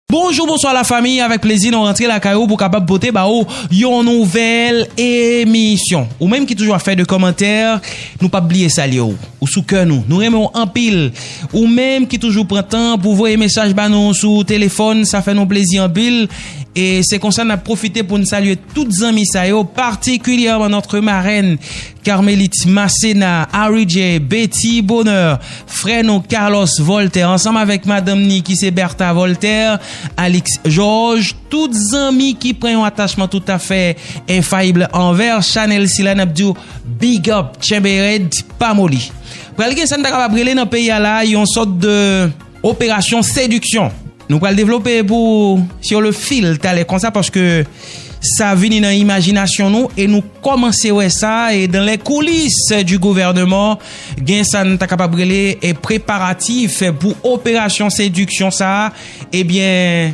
Bonjou bonswa la famiy avèk plezi nou rantre lakay ou pou kapab pote ba ou yon nouvèl emisyon ou menm ki toujou ap fè de kòmantè nou pap bliye salye ou ou sou kè nou nou renmen ou anpil ou menm ki toujou pran tan pou voye mesaj ba nou sou telefòn sa fè nou plezi anpil e se konsa nap profite poun salye tout zanmi sa yo patikilyèman nòtre marèn Carmelite Macena, Aridje, Betty Bonheur, frè nou Carlos Voltaire ansanm avèk madanm ni ki se Bertha Voltaire, Alix Georges, tout zanmi ki pran yon atachman toutafè enfayibl anvè chanèl sila nap diw big up tchenbe rèd pa moli. Pral gen sa n ta kapab rele nan peyi a la yon sòt de. Operasyon sediksyon. Nou pral devlope pou sur le fil talè konsa paske sa vini nan imajinasyon nou e nou kòmanse wè sa e dans les coulisses du gouvernement gen sa n ta kapab rele preparatif pou operasyon sediksyon sa a ebyen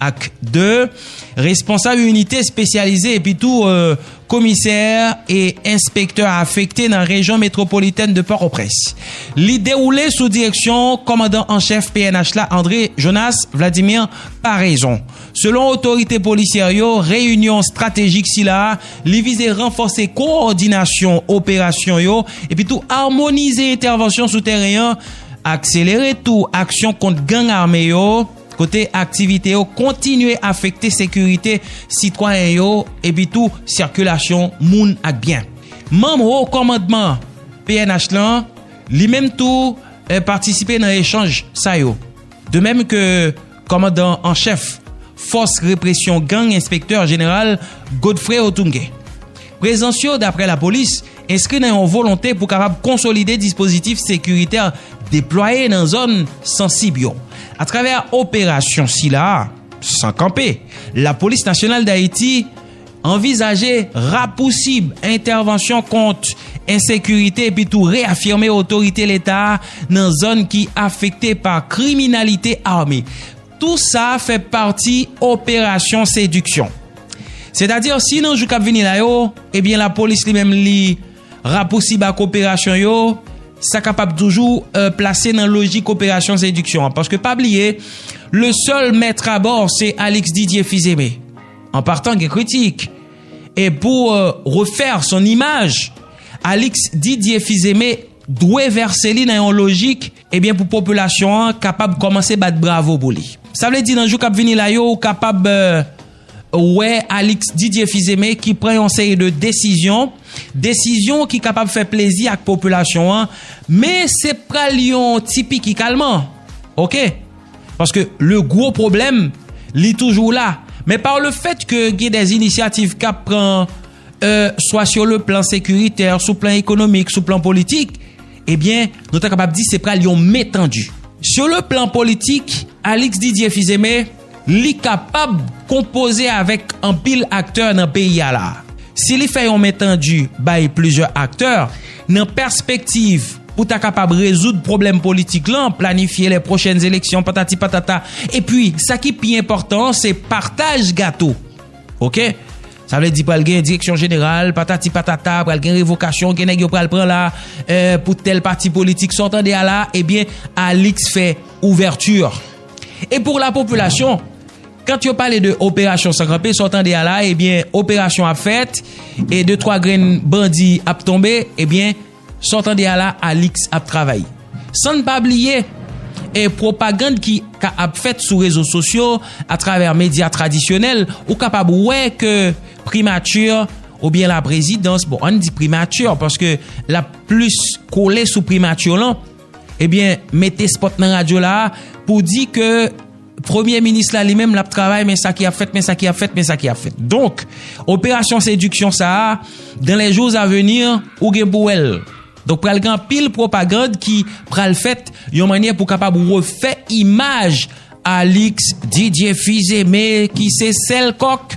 Ak 2, Responsab inite espesyalize epi tou Komisè e Enspektè afekte nan rejyon metwopolitèn de Pòtoprens. Li dewoule sou direksyon Kòmandan an Chèf pnh la André Jonas Vladimir Paraison. Selon otorite polisyè yo, reyinyon estratejik sila a li vize ranfòse kowòdinasyon operasyon yo epi tou amonize entèvansyon sou tèren an, akselere tou aksyon kont gang ame yo, kote aktivite yo kontinye afekte sekirite sitwayen yo epitou sikilasyon moun ak byen. Manm Ho Kòmandman pnh lan, li menm tou patisipe nan echanj sa yo, de menm ke Kòmandan an Chèf Fòs Represyon Gang Enspektè Jeneral Godfrey Otunge. Prezans yo, daprè lapolis, enskri nan yon volonte pou kapab konsolide dispozitif sekiritè deplwaye nan zòn sansib yo. Atravè operasyon sila a, san kanpe, Lapolis Nasyonal Dayiti anvizaje rapousib entèvansyon kont ensekirite epitou reyafime otorite Leta a nan zòn ki afekte pa kriminalite ame. Tou sa fè pati operasyon sediksyon. Setadi si nan jou k ap vini la yo, ebyen lapolis li menm li rapousib ak operasyon yo, sa kapab toujou plase nan lojik operasyon sediksyon an. Paske pa bliye, le sèl mèt abò se Alix Didier Fils-Aimé. An partan gen kritik. E pou refè son imaj, Alix Didier Fils-Aimé dwe vèse li nan yon lojik. Ebyen pou popilasyon an kapab kòmanse bat bravo pou li. Sa vle di nan jou kap vini la yo ou kapab wè Alix Didier Fils-Aimé ki pran yon seri de desizyon, desizyon ki kapab fè plezi ak popilasyon an men se pral yon ti piki kalman ok. Paske le gwo pwoblèm li toujou la men par le fèt ke gen dè inisyativ kap pran swa sou le plan sekiritè, sou plan ekonomik, sou plan politik. Ebyen, nou ta kapab di se pral yon men tandu. Sur le plan politik, Alix Didier Fils-Aimé, li kapab konpoze avèk anpil aktè nan peyi a la. Si li fè yon men tandu bay plizyè aktè, nan pèspektiv pou ta kapab rezoud pwoblèm politik lan, planifye lè pwochèn eleksyon patati patata, epi sa ki pi enpòtan an se partaj gato. Ok. Sa vle di pral gen direksyon jeneral, patati patata, pral gen revokasyon, gen nèg yo pral pran la, eh, pou tèl pati politik, sa w tande a la, ebyen, eh Alix fè ouverture. E pou la popilasyon, kant yo pale de operasyon san kanpe, sa w tande a la, ebyen, eh operasyon ap fèt, e de twa grenn bandi ap tonbe, ebyen, eh Sa w tande a la Alix ap travay. San n pa bliye e pwopagand ki ka ap fèt sou rezo sosyo atravè medya tradisyonèl ou kapab wè ke primati oubyen laprezidans bon an n di primati paske l ap plis kole sou primati lan ebyen mete spòt nan radyo la pou di ke Premye minis la li menm l ap travay men sa ki ap fèt, men sa ki ap fèt, men sa ki ap fèt. Donk, operasyon sediksyon sa a, dan lè jou a veni, ou gen pou wè l. Donk pral gen anpil pwopagand ki pral fèt yon mannyè pou kapab refè imaj Alix Didier Fils-Aimé ki se sèl kòk.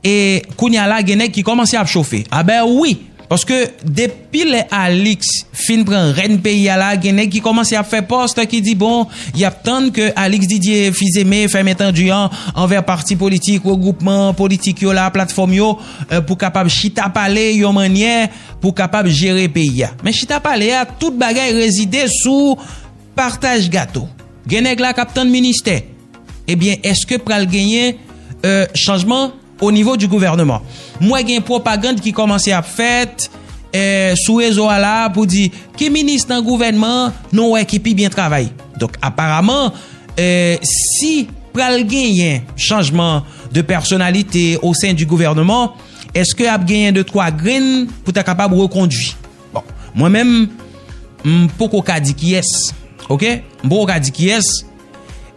E kounya la gen nèg ki kòmanse ap chofe. A bè wi! Paske depi lè Alix fin pran rèn peyi a la gen nèg ki kòmanse ap fè post ki di bon y ap tann ke Alix Didier, Fizeme, fèm entandu an anvè pati politik, regwoupman politik yo la, platfòm yo pou kapab chita pale yon mannyè pou kapab jere peyi a. Men chita pale a tout bagay rezide sou partaj gato. Gen nèg la k ap tann ministè. Ebyen eske pral genyen chanjman o nivo di gouvèneman. M wè gen pwopagand ki kòmanse ap fèt sou rezo a la pou di ki minis nan gouvèneman nou wè ki pi byen travay. Donk aparaman si pral genyen chanjman de pèsonalite o sen di gouvèneman eske ap genyen de twa grenn pou ta kapab rekondui. Bon mwen menm m poko ka di kiyès ok m poko ka di kiyès.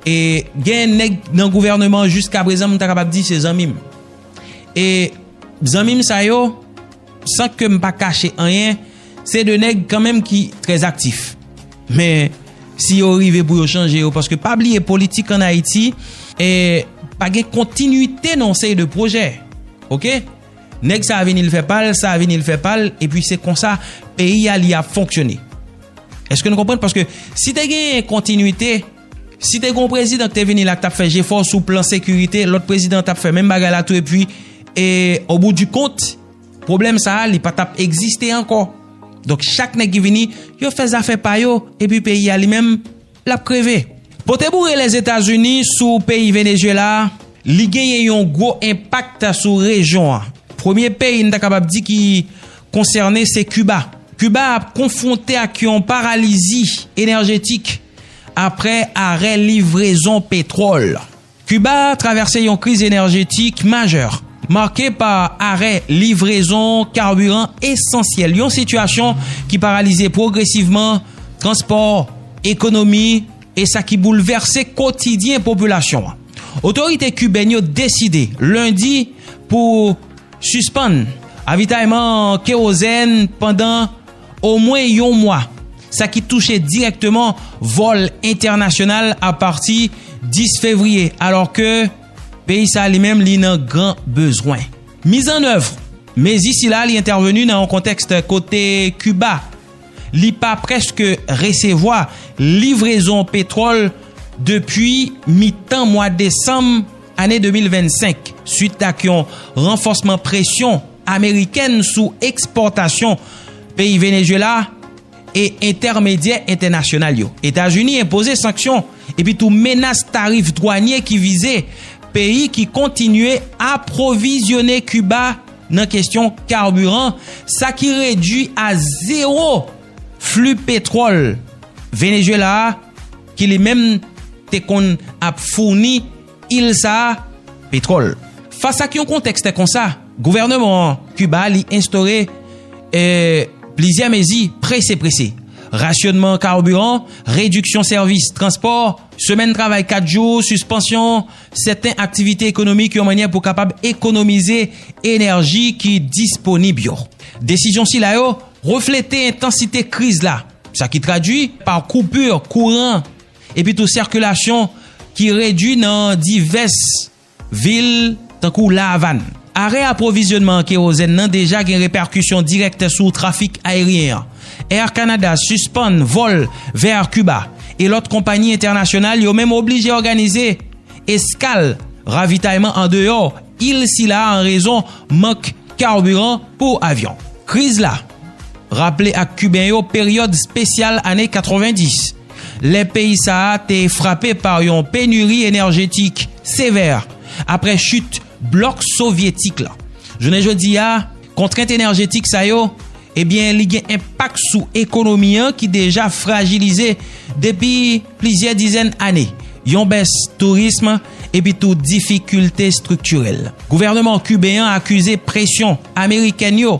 E gen nèg nan gouvèneman an jiska prezan m ta kapab di se zanmi m. E zanmi m sa yo, san ke m pa kache anyen, se de nèg kanmenm ki trè aktif. Men, si yo rive pou yo chanje yo, paske pa bliye politik an Ayiti, e pa gen kontinite nan yon seri de pwojè. Ok? Nèg sa vini l fè pal, sa vini l fè pal, epi se konsa peyi a li ap fonksyone. Eske nou konprann? Paske si te gen kontinite, si te gen yon prezidan ki te vini la ki t ap fè jefò sou plan sekirite, lòt prezidan t ap fè menm bagay la tou epi e o bout di kont, pwoblèm sa a li pa t ap egziste ankò. Donk chak nèg ki vini, yo fè zafè pa yo, epi peyi a li menm lap kreve. Pote boure Lèzetazini sou peyi Venezyela a, li genyen yon gwo enpak sou rejyon an. Premye peyi n ta kapab di ki konsène se Kiba. Kiba ap konfwonte ak yon paralizi enèjetik apre arè livrezon petwòl. Kiba travèse yon kriz enèjetik majè, make pa arè livrezon karbiran esansyèl, yon sitiyasyon ki paralize pwogresivman transpò, ekonomi, e sa ki boulvèse kotidyen popilasyon an. Otorite kibèn yo deside lendi pou sispann avitayman an kewozèn pandan. omwen yon mwa, sa ki touche dirèkteman vòl entènasyonal apati 10 fevriye alò ke peyi sa li menm li nan gran bezwen. Mizannèv mezi sila li entèveni nan yon kontèks kote Kiba li pa prèske resevwa livrezon petwòl depi mitan mwa desanm ane 2025 swit ak yon ranfòsman presyon amerikèn sou ekspòtasyon peyi Venezuela e entèmedyè entènasyonal yo. Etazini enpoze sanksyon epi tou menas tarif dwanye ki vize peyi ki kontinye apwovizyone Kiba nan kesyon karbiran, sa ki redui a zewo fli petwòl Venezuela a ki li menm te konn ap founi il sa a petwòl. Fas ak yon kontèkste konsa, gouvèneman an Kiba li enstore e plizyè mezi prese prese, rasyonman karbiran, rediksyon sèvis transpò, semèn travay 4 jou, sispansyon sèten aktivite ekonomik yon mannyè pou kapab ekonomize enèji ki disponib yo. Desizyon sila yo reflete entansite kriz la, sa ki tradwi pa koupur kouran. Epi tou sikilasyon ki redwi nan divès vil tankou La Avàn. Arè apwovizyonman an kerozèn nan deja gen repèkisyon dirèk sou trafik ayeryen an. Air Canada sispann vòl vèr Kiba e lòt konpayi entènasyonal yo menm oblije òganize eskal ravitayman andeyò il sila an rezon mank karbiran pou avyon. Kriz la raple ak Kiben yo peryòd spesyal ane 90. lè peyi sa a te frape pa yon penuri enèjetik sevè apre chit blòk sovyetik la. Jounen jodi a, kontrent enèjetik sa yo, ebyen li gen enpak sou ekonomi an ki deja frajilize depi plizyè dizèn ane, yon bès tourism epi tou difikilte estriktirèl. Gouvèneman kiben an akize presyon amerikèn yo,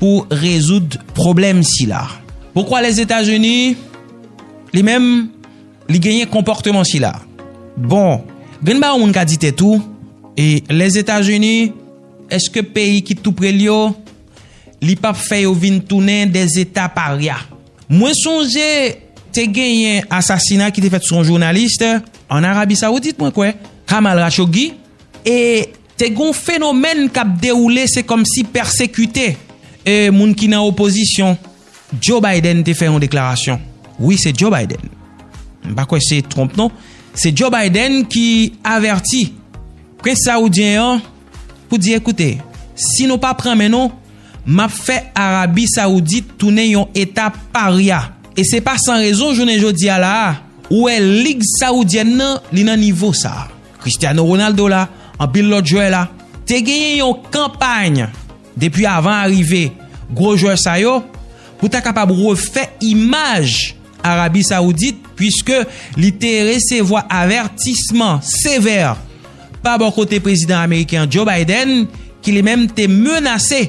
pou rezoud pwoblèm sila. Poukwa Lèzetazini, li menm, li genyen konpòteman sila? Bon, grenn ba yon moun ka di tèt ou, e Lèzetazini, èske peyi ki tou pre l yo, li pa p fè yo vin tounen de zeta parya? Mwen sonje te genyen asasina ki te fèt sou yon jounalis ann Arabi Sawoudit, mwen kwè, Kamal Rachoggi, e. Te gen yon fenomèn k ap dewoule se kòmsi pèsekite e moun ki nan opozisyon. Joe Biden te fè yon deklarasyon. Wi se Joe Biden. M pa kwè se Trump non. Se Joe Biden ki avèti prens sawoudyen an pou di ekoute si nou pa pran men nou m ap fè Arabi Sawoudit tounen yon eta parya. E se pa san rezon jounen jodi a la a ou wè lig sawoudyèn nan li nan nivo sa a. Cristiano Ronaldo la, anpil lòt jwè la. Te genyen yon kanpay depi avan arive gwo jwè sa yo pou ta kapab refè imaj Arabi Saoudit puiske li te resevwa avètisman sevè pa bò kote prezidan ameriken an Joe Biden ki li menm te menase